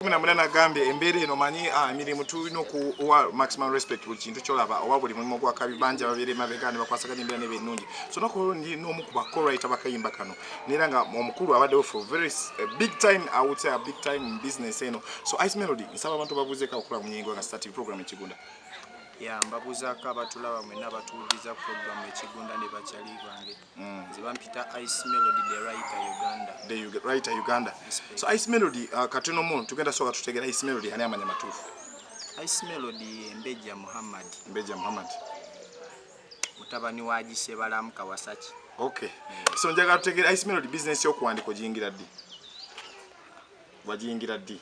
munamuna nagambye embeera eno manyi ah, emirimu tulina okuwa maximum respect buli kintu kyolaba oba buli mulimu gwakabi bangi ababeera emabega ne bakwasaganya embeera neba ennungi so nakundi n'omu ku bakorayita bakayimba kano neera nga omukulu abaddewo for very eh, big time i would say a big time in business eno so ice melody nsaba abantu babuuzeeko abakola mu nyingo nga starting program ekigunda ya mbabuuzaako abatulaba mwena abatuwuliriza program ekigunda ne bakyali bange Mm. Nze bampita Ice Melody the writer Uganda. The writer Uganda. So Ice Melody uh, katono mu tugenda soka tutegera Ice Melody ani amanya matufu. Ice Melody Mbeja Muhammad. Mbeja Muhammad. Mutabani wa Jise Balamu Kawasaki. Okay. Mm. So njaga tutegera Ice Melody business yo kuandiko jingira di. Wajingira di.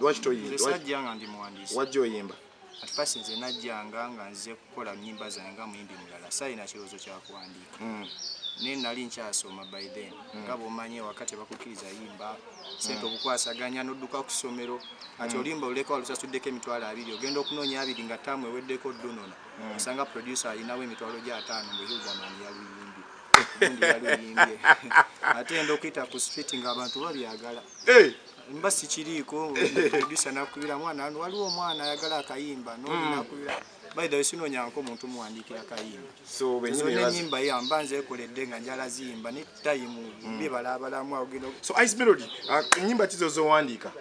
Lwaki toyimba? Nze sajja nga ndi muwandiisi. Wajja oyimba? At first nze najjanga nga nze kukola nnyimba zange nga muyimbi mulala saalina kirowoozo kya kuwandiika mm. naye nali nkyasoma by then mm. nga bwomanyi ewaka tebakukkiriza yimba sente mm. obukwasaganya nodduka ku ssomero ati olimba oluleka walusasuddeko emitwalo abiri ogenda okunoonya abiri nga taamu eweddeko dunona osanga producer alinawo emitwalo gya ataano mbu hildaman yaluyimbi yaluyimbi ate enda okuyita ku street nga abantu babyagala mba sikiriiko producer nakubira mwana ano waliwo omwana ayagala akayimba nonakubira hmm. by the way sinonyanko omuntu muwandiikira kayimba zona enyimba ya mba nzekoledde nga njala ziyimba ne tayimu hmm. bibala abalamu awogenda so ice melody uh, enyimba kizo zowandiika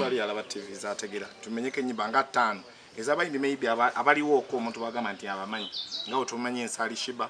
ali alaba tv zategera tumenyeko enyimba nga ttaano ezabayimbi maybe abaliwo oko omuntu bagamba nti abamanyi nga otumanyi ensali shiba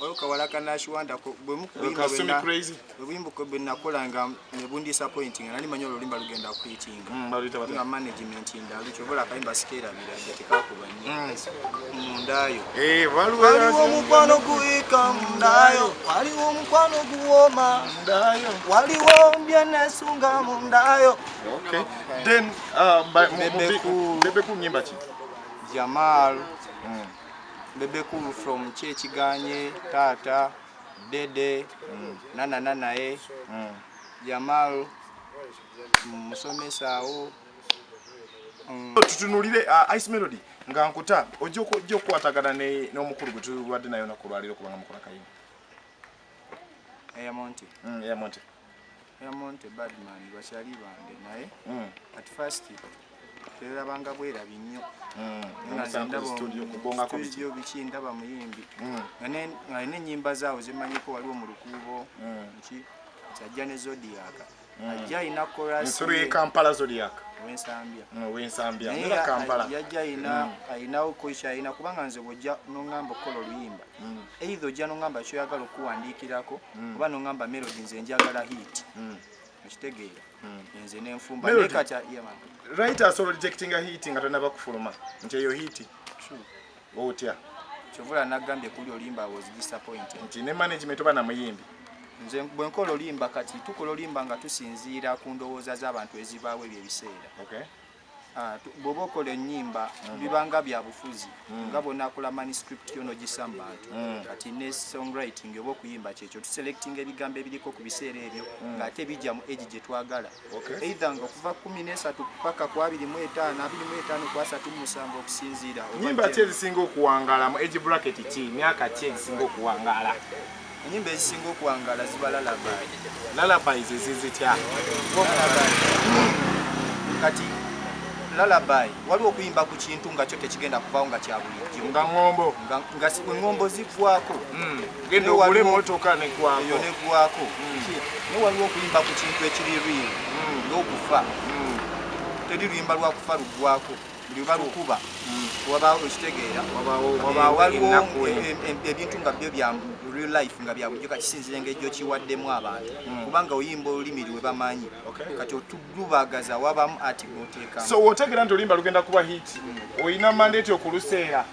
waliwo kawala ka nashiwanda bwebuyimbuko bwenakola nga nebundisappointi nga nali manyi olulimba lugenda kuitinga mm, nga management ndalu kyobola akayimba sikerabira nga tekakuba nyo mm. mundayo eh, waliwo omukwano guika mundayo waliwo omukwano guwoma mundayo waliwo mbyenesunga mundayo then uh, bebeku nyimba ki jamal mm. bebe cool from kyekiganye taata dede mm. nana nanaye mm. jamal musomesa awo mm. tutunulire uh, ice melody nga nkuta ojja okukwatagana n'omukulu gwe tubadde nayo nakulwaliro kubanga mukola kayini eyamonti mm, eyamonti yamonte badman bakyali bange naye hmm. at first twerabanga bwerabi nnyo studio hmm. biki ndaba muyimbi hmm. nga nenyimba zaawo zemanyiko waliwo mu lukuubo ki kyajja ne zodiaka ajja alina korasikampala zodiaka wensambya yajja alinawo koki alina kubanga nze bwojja nongamba okukola oluyimba mm. either ojja nongamba kyoyagala okuwandiikirako mm. oba nongamba melodi nze njagala hit mm. okitegeera nze nenfumbarit asobola rejectinga hit nga tonaba kufuluma nti eyo hit otya kyovula nagambye kuli olimba was disappointed nti ne management oba namuyimbi nze bwe nkola olimba kati tukola olimba nga tusinziira ku ndowooza z'abantu ezibaawo ebyo ebiseera Ah, bwoba okola enyimba mm. bibanga byabufuzi mm. nga bwonakola manuscript yo nogisa mu bantu mm. kati ne songwriting oba okuyimba kyekyo tuselectinga ebigambo ebiriko ku biseera ebyo ngaate bijja mu egi gyetwagala eitha nga okuva kumi nesatu paka ku abiri mu etaano abiri mu etaano ku asatu mumusanvu okusinziira nyimba ki ezisinga okuwangala mu egi bracket ki myaka ki ezisinga okuwangala enyimba ezisinga okuwangala ziba lalabai lalabai zezizitya kati lalabai waliwo okuyimba ku kintu nga kyo tekigenda kuvawo nga kyabulijjo nga ngombo nga engombo zigwako hmm. genda ogule emotoka negwayo negwako hmm. naye waliwo okuyimba ku kintu ekiri riiri hmm. n'okufa teri luyimba lwakufa lugwako buli balukuba wabaawo ekitegeera waliwo ebintu nga byo bya real life nga byabujjo kakisinzira engeri gyokiwaddemu abantu hmm. kubanga oyimba olulimi lwe bamanyi kati otulubagaza wabamu ati noteekamu so wotegeera nti oluyimba lugenda kuba hit hmm. olina mandate okuluseera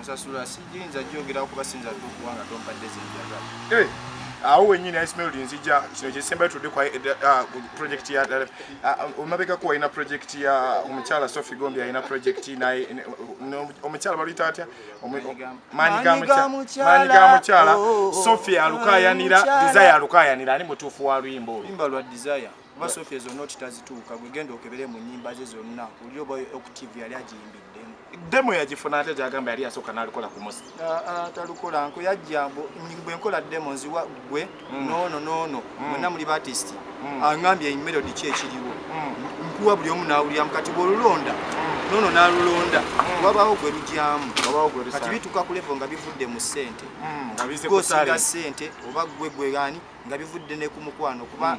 nsasula sijinza jogera kuba sinza tukuwa nga tompadde zenjaga eh, awo wenyini ismail nzija kino kyesembayo tudde kwa eh, ah, project ya eh, ah, ah, omabekako walina project ya omukyala sofi gombi alina project naye omukyala baluyita atya maanyi ga mukyala oh, oh, oh, sofi alukayanira desire alukayanira ani mutuufu wa luyimba olwo kuba sofia zonna oti tazituuka gwe genda okebere mu nyimba ze zonna oli oba octive yali agiyimbiddemu demo yagifuna ate gyagamba yali yasooka nalikola ku musi ah, ah, talukola nko yajja bwe nkola demo nziwa gwe mm. noono noono mm. mwenna muli batist mm. angambye emelodi ki ekiriwo nkuwa buli omu nawuliramu kati bwolulonda nono nalulonda hmm. wabaawo gwe lugyamu kati bituuka ku levo nga bivudde mu sente hmm, gosinga sente oba gwe gwerani nga bivudde ne ku mukwano kuba hmm.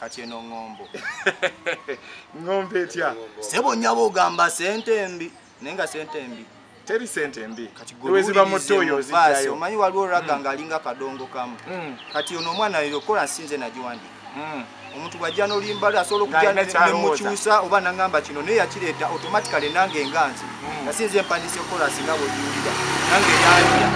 kati eno ŋŋombo ŋŋombo etya sebo nyaba ogamba sente mbi naye nga sente mbi teri sente mbi weziba muto oyo ozijjayo omanyi waliwo raga mm. nga alinga kadongo kamu mm. kati ono omwana yo kola nsinze nagiwandika mm. omuntu bwajja nolimbali asobola okujja nemukyusa oba nangamba kino naye yakireeta automatically nange enganzi nasinze empandisa ekola singa bwejiwulira nange yanja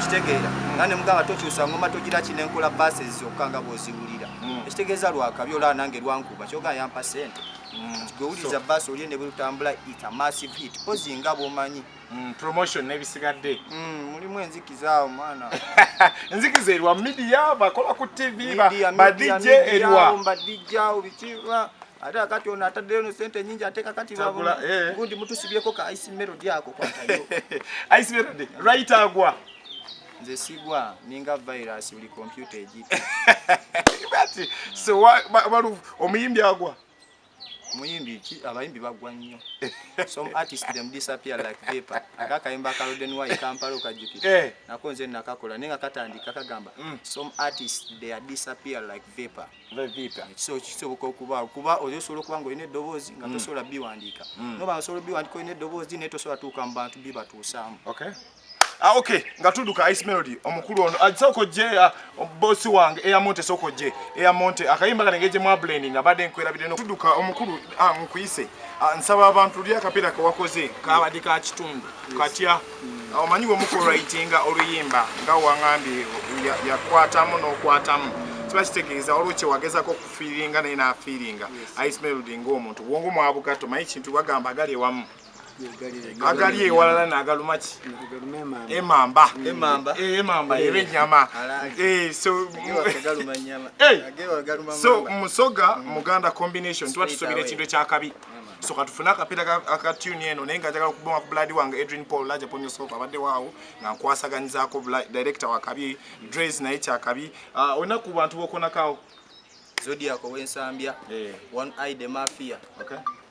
kitegeera nga nemugamba tokyusa ngoma togira kinenkola bases zokka nga bwoziwulira mm. ekitegeeza lwakabi olaba nange lwankuba kyoga yampa sente mm. gwewuliza baasi olye ne bwetutambula it a massive hit pozi nga bwomanyi mm, promotion nebisigadde mulimu enzikiza omwana enzikiza erwa midia bakola ku tv badj erwa badj obikiwa ate akati ono ataddeyo no sente nyingi ate kakati eh. gundi mutusibyeko ka ice melody ako kwatayo ice melody right agwa nze sigwa ninga virus buli kompyuta egita omuyimbi agwa omuyimbi ki abayimbi bagwa nnyo some artist them disappear like vapor aka akayimba ka roden y kampala okajjukira eh. nako nze nakakola naye nga katandika kagamba mm. some artist they are disappear like vapor so kisoboka okuba kuba oyo osobola okuba nga olina eddoboozi nga mm. tosobola biwandiika mm. noba osobola biwandiika olina eddoboozi naye tosobola tuuka mu bantu bibatuusaamu Ah, okay nga tuduka ice melody omukulu ono ajisoko ah, je ah, boss wange eya monte soko je eya monte akayimba kanengeje mwa blending abade nkwera bideno tuduka omukulu ah, nkuyise ah, nsaba abantu lya kapira ka wakoze kabadi ka kitundu katya mm. ah, omanyi we muko writing oluyimba nga wangambi yakwatamu ya n'okwatamu no kiba kitegeeza waliwo kyewagezako okufiiringa naye naafiiringa ice melody ngaomuntu bwongo mwabugatto manyi kintu bagamba agali ewamu agali ewalala nagaluma ki emamba emamba eh, eh. eba enyama eh, so musoga mm. muganda combination tuba tusubira ekintu ekyakabi so katufune akapiira akatuni eno naye nga njagala okubonga ku buladi wange adrian paul laja ponyosop abadde waawo nga nkwasaganyizaako director wakabi dres naye kyakabi ah, olina ku bantu bokonakaawo zodiac owensambya one ide mafia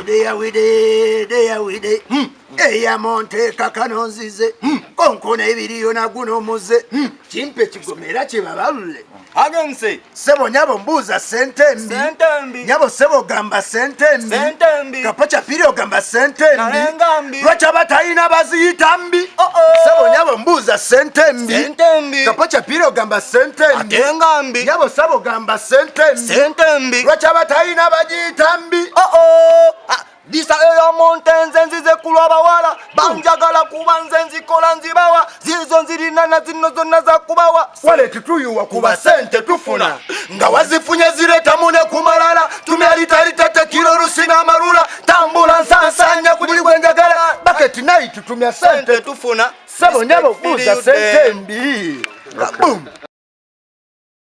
udeyawidedeyawide hmm. eyamonteeka kano nzize hmm. konkona ebiriyo naguno muze hmm. kimpe kigomera kyebabalule agense sebo nyabo mbuuza sente mbi nyabo sebo gamba sente mbi kapaca piri ogamba sente mbi lwaki abatalina baziyita mbi oh, oh. sebo nyabo mbuuza sente mbi kapo kyapira ogamba sente mbi nyabo sabo gamba sente mbi lwaki abatalina bagiyita mbi oh, ah, disa eyo monte nze nzize kulwa bawala banjagala kuba nze nzikola nzibawa zizo nzirina na zino zonna zakubawa waleti tuyuwa kuba sente tufuna nga wazifunye ziretamu ne kumalala tumyalitalitete kiro lusina amalula tambula nsansanya ku buli gwenjagala baketi nayi tutumya sente tufuna sebo nyabo buuza sente mbi